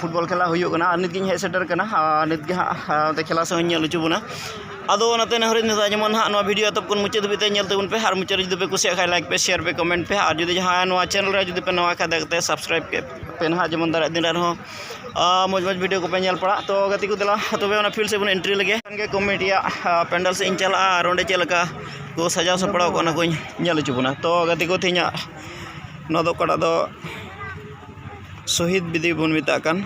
football ᱠᱷᱮᱞᱟ ᱦᱩᱭᱩᱜ ᱠᱟᱱᱟ ᱟᱨ ᱱᱤᱛᱜᱤᱧ ᱦᱮᱡ ᱥᱮᱴᱮᱨ ᱠᱟᱱᱟ ᱟᱨ ᱱᱤᱛᱜᱮ ᱦᱟᱸᱜ ᱠᱷᱮᱞᱟ ᱥᱮᱫ ᱤᱧ ᱧᱮᱞ ᱦᱚᱪᱚ ᱵᱚᱱᱟ ᱟᱫᱚ ᱚᱱᱟᱛᱮ ᱱᱮᱦᱚᱨ ᱤᱧ ᱫᱚᱦᱚᱭᱮᱫᱟ ᱡᱮᱢᱚᱱ ᱦᱟᱸᱜ ᱱᱚᱣᱟ ᱵᱷᱤᱰᱭᱳ ᱮᱛᱚᱦᱚᱵ ᱠᱷᱚᱱ ᱢᱩᱪᱟᱹᱫ ᱫᱷᱟᱹᱵᱤᱡ ᱛᱮ ᱧᱮᱞ ᱛᱟᱵᱚᱱ ᱯᱮ ᱟᱨ ᱢᱩᱪᱟᱹᱫ ᱨᱮ ᱡᱩᱫᱤ ᱯᱮ ᱠᱩᱥᱤᱭᱟᱜ ᱠᱷᱟᱡ ᱞᱟᱭᱤᱠ ᱯᱮ ᱥᱮᱭᱟᱨ ᱯᱮ ᱠᱚᱢᱮᱱᱴ ᱯᱮ ᱟᱨ ᱡᱩᱫᱤ ᱡᱟᱦᱟᱸᱭ ᱱᱚᱣᱟ ᱪᱮᱱᱮᱞ ᱨᱮ ᱡᱩᱫᱤ ᱯᱮ ᱱᱟᱣᱟ ᱠᱷᱟᱡ ᱫᱟᱭᱟ ᱠᱟᱛᱮᱫ ᱥᱟᱵᱥᱠᱨᱟᱭᱤᱵᱽ ᱠᱮᱫ ᱯᱮ ᱱᱟᱦᱟᱜ ᱡᱮᱢᱚᱱ ᱫᱟᱨᱟᱭ ᱫᱤᱱ ᱨᱮᱦᱚᱸ ᱢᱚᱡᱽ ᱢᱚᱡᱽ ᱵᱷᱤᱰᱭᱳ ᱠᱚᱯᱮ ᱧᱮᱞ ᱯᱟᱲᱟᱜ ᱛᱚ ᱜᱟᱛᱮ ᱠᱚ ᱫᱮᱞᱟ ᱛᱚᱵᱮ ᱚᱱᱟ ᱯᱷᱤᱞᱰ ᱥᱮᱫ ᱵᱚᱱ ᱮᱱᱴᱨᱤ ᱞᱮᱜᱮ ᱠᱷᱟᱱᱜᱮ ᱠᱚᱢᱤᱴᱤ ᱨᱮᱭᱟᱜ ᱯᱮᱱᱰᱮᱞ ᱥᱮᱫ ᱤᱧ ᱪᱟᱞᱟᱜᱼᱟ ᱟᱨ ᱚᱸᱰᱮ ᱪᱮᱫ ᱞᱮᱠᱟ ᱠᱚ ᱥᱟᱡᱟᱣ ᱥᱟᱯᱲᱟᱣ ᱠᱟᱜᱼᱟ ᱚᱱᱟ ᱠᱚᱧ ᱧᱮᱞ ᱦᱚᱪᱚ ᱵᱚᱱᱟ ᱛᱚ ᱜᱟᱛᱮ ᱠᱚ ᱛᱮᱦᱮᱧᱟᱜ ᱱᱚᱣᱟ ᱫᱚ ᱚᱠᱟᱴᱟᱜ ᱫᱚ ᱥᱚᱦᱤᱫᱽ ᱵᱤᱫᱤ ᱵᱚᱱ ᱢᱮᱛᱟᱜ ᱠᱟᱱ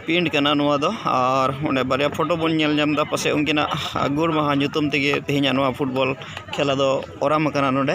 ᱯᱤᱱᱴ ᱠᱟᱱᱟ ᱱᱚᱣᱟ ᱫᱚ ᱟᱨ ᱚᱸᱰᱮ ᱵᱟᱨᱭᱟ ᱯᱷᱳᱴᱳ ᱵᱚᱱ ᱧᱮᱞ ᱧᱟᱢ ᱮᱫᱟ ᱯᱟᱥᱮᱡ ᱩᱱᱠᱤᱱᱟᱜ ᱜᱩᱨ ᱢᱟᱦᱟ ᱧᱩᱛᱩᱢ ᱛᱮᱜᱮ ᱛᱮᱦᱮᱧᱟᱜ ᱱᱚᱣᱟ ᱯᱷᱩᱴᱵᱚᱞ ᱠᱷᱮᱞᱟ ᱫᱚ ᱚᱨᱟᱢ ᱟᱠᱟᱱᱟ ᱱᱚᱸᱰᱮ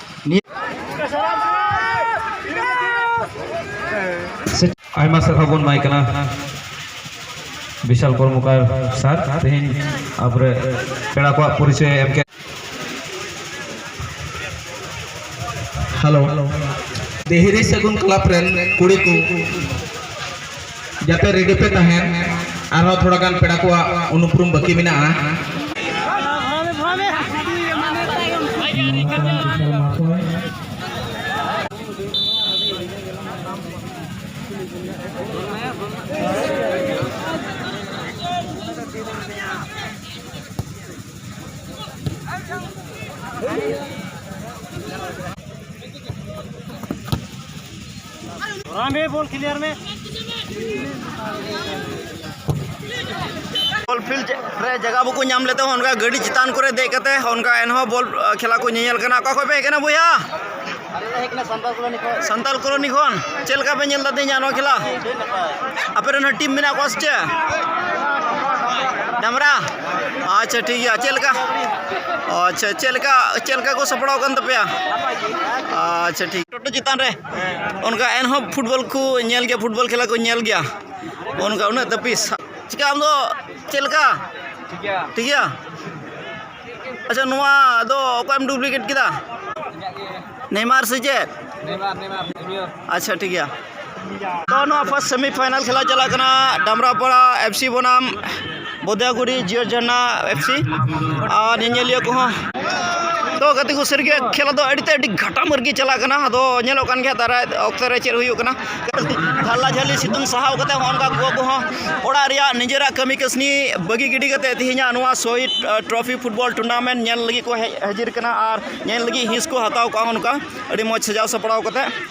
ᱟᱭᱢᱟ ᱥᱟᱨᱦᱟᱣ ᱵᱚᱱ ᱮᱢᱟᱭ ᱠᱟᱱᱟ ᱵᱤᱥᱟᱞ ᱠᱚᱨᱢᱚᱠᱟᱨ ᱥᱟᱨ ᱛᱮᱦᱮᱧ ᱟᱵᱚᱨᱮ ᱯᱮᱲᱟ ᱠᱚᱣᱟᱜ ᱯᱚᱨᱤᱪᱚᱭ ᱮᱢ ᱠᱮᱫ ᱦᱮᱞᱳ ᱫᱮᱦᱤᱨᱤ ᱥᱟᱹᱜᱩᱱ ᱠᱞᱟᱵᱽ ᱨᱮᱱ ᱠᱩᱲᱤ ᱠᱚ ᱡᱟᱛᱮ ᱨᱮᱰᱤ ᱯᱮ ᱛᱟᱦᱮᱱ ᱟᱨᱦᱚᱸ ᱛᱷᱚᱲᱟ ᱜᱟᱱ ᱯᱮᱲᱟ ᱠᱚᱣᱟᱜ ᱩᱱᱩᱯᱨᱩᱢ ᱵᱟᱹᱠᱤ ᱢᱮᱱᱟᱜᱼᱟ ᱵᱚᱞ ᱯᱷᱤᱞᱰ ᱨᱮ ᱡᱟᱭᱜᱟ ᱵᱟᱠᱚ ᱧᱟᱢ ᱞᱮᱫ ᱛᱮᱦᱚᱸ ᱚᱱᱠᱟ ᱜᱟᱹᱰᱤ ᱪᱮᱛᱟᱱ ᱠᱚᱨᱮ ᱫᱮᱡ ᱠᱟᱛᱮ ᱚᱱᱠᱟ ᱮᱱᱦᱚᱸ ᱵᱚᱞ ᱠᱷᱮᱞᱟ ᱠᱚ ᱧᱮᱧᱮᱞ ᱠᱟᱱᱟ ᱚᱠᱟ ᱠᱷᱚᱱ ᱯᱮ ᱦᱮᱡ ᱠᱟᱱᱟ ᱵᱚᱭᱦᱟ ᱥᱟᱱᱛᱟᱞ ᱠᱚᱞᱚᱱᱤ ᱠᱷᱚᱱ ᱪᱮᱫ ᱞᱮᱠᱟ ᱯᱮ ᱧᱮᱞ ᱮᱫᱟ ᱛᱮᱦᱮᱧᱟᱜ ᱱᱚᱣᱟ ᱠᱷᱮᱞᱟ ᱟᱯᱮ ᱨᱮᱱ ᱴᱤᱢ ᱢᱮᱱᱟᱜ ᱠᱚᱣᱟ ᱥᱮ ᱪᱮᱫ ᱰᱟᱢᱨᱟ ᱟᱪᱪᱷᱟ ᱴᱷᱤᱠ ᱜᱮᱭᱟ ᱪᱮᱫ ᱞᱮᱠᱟ ᱟᱪᱪᱷᱟ ᱪᱮᱫ ᱞᱮᱠᱟ ᱪᱮᱫ ᱞᱮᱠᱟ ᱠᱚ ᱥᱟᱯᱲᱟᱣ ᱟᱠᱟᱱ ᱛᱟᱯᱮᱭᱟ ᱟᱪᱪᱷᱟ ᱴᱷᱤᱠ ᱯᱷᱳᱴᱳ ᱪᱮᱛᱟᱱ ᱨᱮ ᱚᱱᱠᱟ ᱮᱱᱦᱚᱸ ᱯᱷᱩᱴᱵᱚᱞ ᱠᱚ ᱧᱮᱞ ᱜᱮᱭᱟ ᱯᱷᱩᱴᱵᱚᱞ ᱠᱷᱮᱞᱟ ᱠᱚ ᱧᱮᱞ ᱜᱮᱭᱟ ᱚᱱᱠᱟ ᱩᱱᱟᱹᱜ ᱛᱟᱹᱯᱤᱥ ᱪᱤᱠᱟᱹ ᱟᱢ ᱫᱚ ᱪᱮᱫ ᱞᱮᱠᱟ ᱴᱷᱤᱠ ᱜᱮᱭᱟ ᱟᱪᱪᱷᱟ ᱱᱚᱣᱟ ᱫᱚ ᱚᱠᱚᱭᱮᱢ ᱰᱩᱵᱽᱞᱤᱠᱮᱴ ᱠᱮᱫᱟ ᱱᱮᱭᱢᱟᱨ ᱥᱮ ᱪᱮᱫ ᱟᱪᱪᱷᱟ ᱴᱷᱤᱠ ᱜᱮᱭᱟ ᱛᱚ ᱱᱚᱣᱟ ᱯᱷᱟᱥᱴ ᱥᱮᱢᱤ ᱯᱷᱟᱭᱱᱟᱞ ᱠᱷᱮᱞᱟ ᱪᱟᱞᱟᱜ ᱠᱟᱱᱟ ᱰᱟᱢᱨᱟᱯᱟᱲᱟ ᱮᱯᱷ ᱥᱤ ᱵᱚᱱᱟᱢ ᱵᱚᱫᱮᱭᱟᱜᱩᱲᱤ ᱡᱤᱭᱚ ᱡᱷᱟᱨᱱᱟ ᱮᱯᱷ ᱥᱤ ᱟᱨ ᱧᱮᱧᱮᱞᱤᱭᱟᱹ ᱠᱚᱦᱚᱸ ᱛᱚ ᱜᱟᱛᱮ ᱠᱚ ᱥᱟᱹᱨᱤᱜᱮ ᱠᱷᱮᱞᱟ ᱫᱚ ᱟᱹᱰᱤᱛᱮ ᱟᱹᱰᱤ ᱜᱷᱟᱴᱟᱢᱟᱹᱨ ᱜᱮ ᱪᱟᱞᱟᱜ ᱠᱟᱱᱟ ᱟᱫᱚ ᱧᱮᱞᱚᱜ ᱠᱟᱱ ᱜᱮᱭᱟ ᱫᱟᱨᱟᱭ ᱚᱠᱛᱚ ᱨᱮ ᱪᱮᱫ ᱦᱩᱭᱩᱜ ᱠᱟᱱᱟ ᱜᱷᱟᱞᱞᱟ ᱡᱷᱟᱹᱞᱤ ᱥᱤᱛᱩᱝ ᱥᱟᱦᱟᱣ ᱠᱟᱛᱮ ᱦᱚᱸ ᱚᱱᱠᱟ ᱜᱚ ᱠᱚᱦᱚᱸ ᱚᱲᱟᱜ ᱨᱮᱭᱟᱜ ᱱᱤᱡᱮᱨᱟᱜ ᱠᱟᱹᱢᱤ ᱠᱟᱹᱥᱱᱤ ᱵᱟᱹᱜᱤ ᱜᱤᱰᱤ ᱠᱟᱛᱮ ᱛᱮᱦᱮᱧᱟᱜ ᱱᱚᱣᱟ ᱥᱚᱦᱤᱫ ᱴᱨᱚᱯᱷᱤ ᱯᱷᱩᱴᱵᱚᱞ ᱴᱩᱨᱱᱟᱢᱮᱱᱴ ᱧᱮᱞ ᱞᱟᱹᱜᱤᱫ ᱠᱚ ᱦᱮᱡ ᱦᱟᱹᱡᱤᱨ ᱠᱟᱱᱟ ᱟᱨ ᱧᱮᱞ ᱞᱟᱹᱜᱤᱫ ᱦᱤᱸᱥ ᱠᱚ ᱦᱟᱛᱟᱣ ᱠᱟᱜᱼᱟ ᱚᱱᱠᱟ ᱟᱹᱰᱤ ᱢᱚᱡᱽ ᱥᱟᱡᱟᱣ ᱥᱟᱯᱲᱟᱣ ᱠᱟᱛᱮ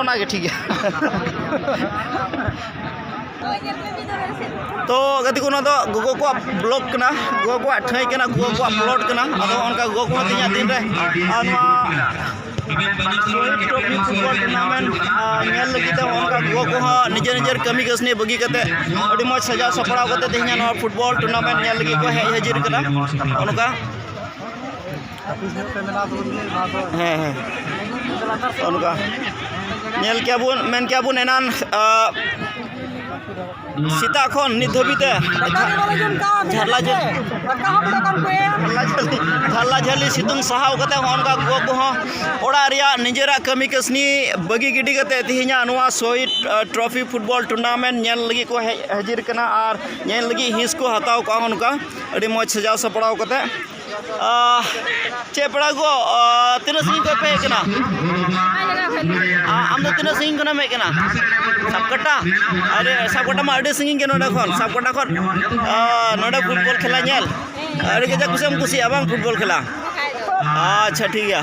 ᱚᱱᱟᱜᱮ ᱴᱷᱤᱠ ᱜᱮᱭᱟ ᱛᱚ ᱜᱟᱛᱮ ᱠᱚ ᱱᱚᱣᱟ ᱫᱚ ᱜᱚᱜᱚ ᱠᱚᱣᱟᱜ ᱵᱞᱚᱜ ᱠᱟᱱᱟ ᱜᱚᱜᱚ ᱠᱚᱣᱟᱜ ᱴᱷᱟᱹᱭ ᱠᱟᱱᱟ ᱜᱚᱜᱚ ᱠᱚᱣᱟᱜ ᱯᱞᱚᱴ ᱠᱟᱱᱟ ᱟᱫᱚ ᱚᱱᱠᱟ ᱜᱚᱜᱚ ᱠᱚᱦᱚᱸ ᱛᱤᱧᱟ ᱫᱤᱱ ᱨᱮ ᱟᱨ ᱱᱚᱣᱟ ᱯᱷᱩᱴᱵᱚᱞ ᱴᱩᱨᱱᱟᱢᱮᱱᱴ ᱧᱮᱞ ᱞᱟᱹᱜᱤᱫ ᱛᱮ ᱚᱱᱠᱟ ᱜᱚᱜᱚ ᱠᱚᱦᱚᱸ ᱱᱤᱡᱮᱨ ᱱᱤᱡᱮᱨ ᱠᱟᱹᱢᱤ ᱠᱟᱹᱥᱱᱤ ᱵᱟᱹᱜᱤ ᱠᱟᱛᱮ ᱟᱹᱰᱤ ᱢᱚᱡᱽ ᱥᱟᱡᱟᱣ ᱥᱟᱯᱲᱟᱣ ᱠᱟᱛᱮ ᱛᱮᱦᱮᱧ ᱱᱚᱣᱟ ᱯᱷᱩᱴᱵᱚᱞ ᱴᱩᱨᱱᱟᱢᱮᱱᱴ ᱧᱮᱞ ᱞᱟᱹᱜᱤᱫ ᱠᱚ ᱦᱮᱡ ᱦᱟᱹᱡᱤᱨ ᱠᱟᱱᱟ ᱚᱱᱠᱟ ᱦᱮᱸ ᱦᱮᱸ ᱚᱱᱠᱟ ᱧᱮᱞ ᱠᱮᱜᱼᱟ ᱵᱚᱱ ᱢᱮᱱ ᱠᱮᱜᱼᱟ ᱵᱚᱱ ᱮᱱᱟᱱ ᱥᱮᱛᱟᱜ ᱠᱷᱚᱱ ᱱᱤᱛ ᱫᱷᱟᱹᱵᱤᱡ ᱛᱮ ᱡᱷᱟᱨᱞᱟ ᱡᱷᱟᱨᱞᱟ ᱡᱷᱟᱹᱞᱤ ᱥᱤᱛᱩᱝ ᱥᱟᱦᱟᱣ ᱠᱟᱛᱮ ᱦᱚᱸ ᱚᱱᱠᱟ ᱜᱚᱜᱚ ᱠᱚᱦᱚᱸ ᱚᱲᱟᱜ ᱨᱮᱭᱟᱜ ᱱᱤᱡᱮᱨᱟᱜ ᱠᱟᱹᱢᱤ ᱠᱟᱹᱥᱱᱤ ᱵᱟᱹᱜᱤ ᱜᱤᱰᱤ ᱠᱟᱛᱮ ᱛᱮᱦᱮᱧᱟᱜ ᱱᱚᱣᱟ ᱥᱚᱦᱤᱫ ᱴᱨᱚᱯᱷᱤ ᱯᱷᱩᱴᱵᱚᱞ ᱴᱩᱨᱱᱟᱢᱮᱱᱴ ᱧᱮᱞ ᱞᱟᱹᱜᱤᱫ ᱠᱚ ᱦᱮᱡ ᱦᱟᱹᱡᱤᱨ ᱠᱟᱱᱟ ᱟᱨ ᱧᱮᱞ ᱞᱟᱹᱜᱤᱫ ᱦᱤᱸᱥ ᱠᱚ ᱦᱟᱛᱟᱣ ᱠᱟᱜᱼᱟ ᱚᱱᱠᱟ ᱟᱹᱰᱤ ᱢᱚᱡᱽ ᱥᱟᱡᱟᱣ ᱥᱟᱯᱲᱟᱣ ᱠᱟᱛᱮ ᱪᱮᱫ ᱯᱮᱲᱟ ᱜᱚ ᱛᱤᱱᱟᱹᱜ ᱥᱟᱺᱜᱤᱧ ᱠᱷᱚᱱ ᱯᱮ ᱦᱮᱡ ᱠᱟᱱᱟ ᱟᱢ ᱫᱚ ᱛᱤᱱᱟᱹᱜ ᱥᱟᱺᱜᱤᱧ ᱠᱷᱚᱱᱮᱢ ᱦᱮᱡ ᱠᱟᱱᱟ ᱥᱟᱵᱠᱟᱴᱟ ᱟᱨᱮ ᱥᱟᱵᱠᱟᱴᱟ ᱢᱟ ᱟᱹᱰᱤ ᱥᱟᱺᱜᱤᱧ ᱜᱮᱭᱟ ᱱᱚᱰᱮ ᱠᱷᱚᱱ ᱥᱟᱵᱠᱟᱴᱟ ᱠᱷᱚᱱ ᱱᱚᱰᱮ ᱯᱷᱩᱴᱵᱚᱞ ᱠᱷᱮᱞᱟ ᱧᱮᱞ ᱟᱹᱰᱤ ᱠᱟᱡᱟᱠ ᱠᱩᱥᱤᱢ ᱠᱩᱥᱤᱭᱟᱜᱼᱟ ᱵᱟᱝ ᱯᱷᱩᱴᱵᱚᱞ ᱠᱷᱮᱞᱟ ᱟᱪᱪᱷᱟ ᱴᱷᱤᱠ ᱜᱮᱭᱟ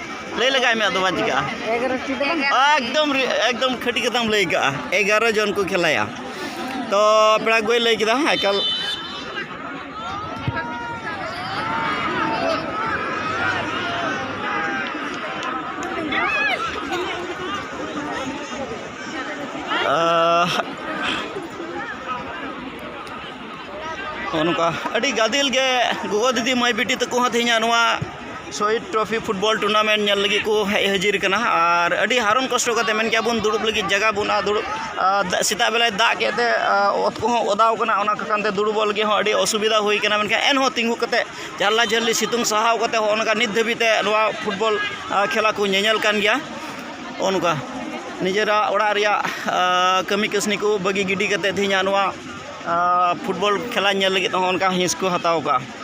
ᱞᱟᱹᱭ ᱞᱮᱜᱟᱭ ᱢᱮ ᱟᱫᱚ ᱵᱟᱝ ᱪᱤᱠᱟᱹᱜᱼᱟ ᱮᱠᱫᱚᱢ ᱮᱠᱫᱚᱢ ᱠᱷᱟᱹᱴᱤ ᱠᱟᱛᱷᱟᱢ ᱞᱟᱹᱭ ᱠᱟᱜᱼᱟ ᱮᱜᱟᱨᱚ ᱡᱚᱱ ᱠᱚ ᱠᱷᱮᱞᱟᱭᱟ ᱛᱚ ᱯᱮᱲᱟ ᱠᱚᱭ ᱞᱟᱹᱭ ᱠᱮᱫᱟ ᱮᱠᱟᱞ ᱱᱚᱜᱼᱚ ᱱᱚᱝᱠᱟ ᱟᱹᱰᱤ ᱜᱟᱫᱮᱞ ᱜᱮ ᱜᱚᱜᱚ ᱫᱤᱫᱤ ᱢᱟᱹᱭ ᱵᱤᱴᱤ ᱛᱟᱠᱚ ᱦᱚᱸ ᱛᱮᱦᱮᱧᱟᱜ ᱱᱚᱣᱟ ᱥᱚᱦᱤᱫ ᱴᱨᱚᱯᱷᱤ ᱯᱷᱩᱴᱵᱚᱞ ᱴᱩᱨᱱᱟᱢᱮᱱᱴ ᱧᱮᱞ ᱞᱟᱹᱜᱤᱫ ᱠᱚ ᱦᱮᱡ ᱦᱟᱹᱡᱤᱨ ᱠᱟᱱᱟ ᱟᱨ ᱟᱹᱰᱤ ᱦᱟᱨᱚᱱ ᱠᱚᱥᱴᱚ ᱠᱟᱛᱮᱫ ᱢᱮᱱ ᱠᱮᱭᱟ ᱵᱚᱱ ᱫᱩᱲᱩᱵ ᱞᱟᱹᱜᱤᱫ ᱡᱟᱭᱜᱟ ᱵᱟᱹᱱᱩᱜᱼᱟ ᱫᱩᱲᱩᱵ ᱥᱮᱛᱟᱜ ᱵᱮᱞᱟᱭ ᱫᱟᱜ ᱠᱮᱫ ᱛᱮ ᱚᱛ ᱠᱚᱦᱚᱸ ᱚᱫᱟ ᱟᱠᱟᱱᱟ ᱚᱱᱟ ᱠᱚ ᱠᱟᱨᱚᱱ ᱛᱮ ᱫᱩᱲᱩᱵᱚᱜ ᱞᱟᱹᱜᱤᱫ ᱦᱚᱸ ᱟᱹᱰᱤ ᱚᱥᱩᱵᱤᱫᱷᱟ ᱦᱩᱭ ᱠᱟᱱᱟ ᱢᱮᱱᱠᱷᱟᱱ ᱮᱱᱦᱚᱸ ᱛᱤᱸᱜᱩ ᱠᱟᱛᱮᱫ ᱡᱷᱟᱞᱞᱟ ᱡᱷᱟᱹᱞᱤ ᱥᱤᱛᱩᱝ ᱥᱟᱦᱟᱣ ᱠᱟᱛᱮᱫ ᱦᱚᱸᱜᱼᱚ ᱱᱚᱝᱠᱟ ᱱᱤᱛ ᱫᱷᱟᱹᱵᱤᱡ ᱛᱮ ᱱᱚᱣᱟ ᱯᱷᱩᱴᱵᱚᱞ ᱠᱷᱮᱞᱟ ᱠᱚ ᱧᱮᱧᱮᱞ ᱠᱟᱱ ᱜᱮᱭᱟ ᱦᱚᱸᱜᱼᱚ ᱱᱚᱝᱠᱟ ᱱᱤᱡᱮᱨᱟᱜ ᱚᱲᱟᱜ ᱨᱮᱭᱟᱜ ᱠᱟᱹᱢᱤ ᱠᱟᱹᱥᱱᱤ ᱠᱚ ᱵᱟᱹᱜᱤ ᱜᱤᱰᱤ ᱠᱟᱛᱮᱫ ᱛᱮᱦᱤᱧᱟᱜ ᱱᱚᱣᱟ ᱯᱷᱩᱴᱵᱚᱞ ᱠᱷᱮᱞᱟ ᱧᱮᱞ ᱞᱟᱹᱜᱤᱫ ᱦᱚᱸᱜᱼᱚ ᱱᱚᱝᱠᱟ ᱦᱤᱸᱥ ᱠᱚ ᱦᱟᱛᱟᱣ ᱠᱟᱜᱼᱟ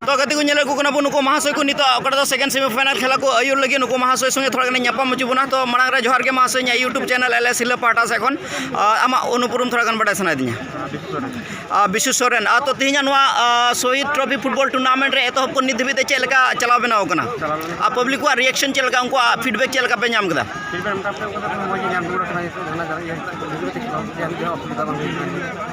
ᱛᱚ ᱜᱟᱛᱮ ᱠᱚ ᱧᱮᱞ ᱟᱹᱜᱩ ᱠᱟᱱᱟ ᱵᱚᱱ ᱱᱩᱠᱩ ᱢᱟᱦᱟᱥᱚᱭ ᱠᱚ ᱱᱤᱛᱚᱜ ᱚᱠᱟᱴᱟᱜ ᱫᱚ ᱥᱮᱠᱮᱱᱰ ᱥᱮᱢᱤᱯᱷᱟᱭᱱᱟᱞ ᱠᱷᱮᱞᱟ ᱠᱚ ᱟᱹᱭᱩᱨ ᱞᱟᱹᱜᱤᱫ ᱱᱩᱠᱩ ᱢᱟᱦᱟᱥᱚᱭ ᱥᱚᱸᱜᱮ ᱛᱷᱚᱲᱟ ᱜᱟᱱ ᱧᱟᱯᱟᱢ ᱦᱚᱪᱚ ᱵᱚᱱᱟ ᱛᱚ ᱢᱟᱲᱟᱝ ᱨᱮ ᱡᱚᱦᱟᱨ ᱜᱮ ᱢᱟᱦᱟᱥᱚᱭ ᱤᱧᱟᱹᱜ ᱤᱭᱩᱴᱩᱵᱽ ᱪᱮᱱᱮᱞ ᱮᱞ ᱮᱥ ᱦᱤᱞᱟᱹ ᱯᱟᱦᱴᱟ ᱥᱮᱫ ᱠᱷᱚᱱ ᱟᱢᱟᱜ ᱩᱱᱩᱯᱩᱨᱩᱢ ᱛᱷᱚᱲᱟ ᱜᱟᱱ ᱵᱟᱰᱟᱭ ᱥᱟᱱᱟᱭᱮᱫᱤᱧᱟ ᱵᱤᱥᱩ ᱥᱚᱨᱮᱱ ᱟᱨ ᱛᱚ ᱛᱮᱦᱮᱧᱟᱜ ᱱᱚᱣᱟ ᱥᱚᱦᱤᱫ ᱴᱨᱚᱯᱷᱤ ᱯᱷᱩᱴᱵᱚᱞ ᱴᱩᱨᱱᱟᱢᱮᱱᱴ ᱨᱮ ᱮᱛᱚᱦᱚᱵ ᱠᱷᱚᱱ ᱱᱤᱛ ᱫᱷᱟᱹᱵᱤᱡ ᱛᱮ ᱪᱮᱫ ᱞᱮᱠᱟ ᱪᱟᱞᱟᱣ ᱵᱮᱱᱟᱣ ᱠᱟᱱᱟ ᱟᱨ ᱯᱟᱵᱽᱞᱤᱠ ᱠᱚᱣᱟᱜ ᱨᱤᱭᱮᱠᱥᱚᱱ ᱪᱮᱫ ᱞᱮᱠᱟ ᱩᱱᱠᱩᱣᱟᱜ ᱯᱷᱤᱰᱵᱮᱠ ᱪᱮᱫ ᱞᱮᱠᱟ ᱯᱮ ᱧᱟᱢ ᱠᱮᱫᱟ ᱯᱷᱤᱰᱵᱮᱠ ᱢᱚᱴᱟᱢᱩᱴᱤ ᱢᱚᱡᱽ ᱜᱮ ᱧᱟᱢ ᱦᱩᱭ ᱠᱟᱱᱟ ᱚᱥᱩᱵᱤᱫᱷᱟ ᱵᱟᱝ ᱦᱩᱭ ᱠᱟᱱᱟ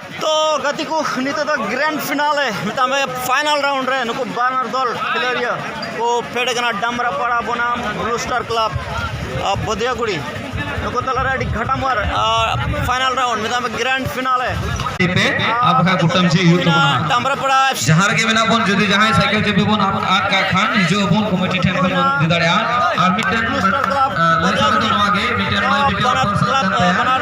ᱛᱚ ᱜᱟᱛᱮ ᱠᱚ ᱱᱤᱛᱚᱜ ᱫᱚ ᱜᱨᱮᱱᱰ ᱯᱷᱤᱱᱟᱞᱮ ᱢᱮᱛᱟᱜ ᱢᱮ ᱯᱷᱟᱭᱱᱟᱞ ᱨᱟᱣᱩᱱᱰ ᱨᱮ ᱱᱩᱠᱩ ᱵᱟᱱᱟᱨ ᱫᱚᱞ ᱠᱷᱮᱞᱳᱰᱤᱭᱟᱹ ᱠᱚ ᱯᱷᱮᱰ ᱠᱟᱱᱟ ᱰᱟᱢᱨᱟᱯᱟᱲᱟ ᱵᱚᱱᱟᱢ ᱵᱞᱩ ᱥᱴᱟᱨ ᱠᱞᱟᱵᱽ ᱵᱚᱫᱤᱭᱟᱜᱩᱲᱤ ᱱᱩᱠᱩ ᱛᱟᱞᱟᱨᱮ ᱟᱹᱰᱤ ᱜᱷᱟᱴᱟᱢᱟᱨ ᱯᱷᱟᱭᱱᱟᱞ ᱨᱟᱣᱩᱱᱰ ᱢᱮᱛᱟᱜ ᱢᱮ ᱜᱨᱮᱱᱰ ᱯᱷᱤᱱᱟᱞᱮ ᱰᱟᱢᱨᱟᱯᱟᱲᱟ ᱡᱟᱦᱟᱸ ᱨᱮᱜᱮ ᱢᱮᱱᱟᱜ ᱵᱚᱱ ᱡᱩᱫᱤ ᱡᱟᱦᱟᱸᱭ ᱥᱟᱭᱠᱮᱞ ᱪᱟᱹᱵᱤ ᱵᱚᱱ ᱟᱫ ᱠᱟᱜ ᱠᱷᱟᱱ ᱦᱤᱡᱩᱜ ᱟᱵᱚᱱ ᱠᱚᱢᱤᱴᱤ ᱴᱷᱮᱱ ᱵᱚᱱ ᱤᱫᱤ ᱫᱟᱲᱮᱭᱟᱜᱼᱟ ᱟᱨ ᱢᱤᱫᱴᱮᱱ ᱱᱚᱣᱟ ᱜᱮ ᱢᱤᱫᱴᱮᱱ ᱵᱟᱱᱟᱨ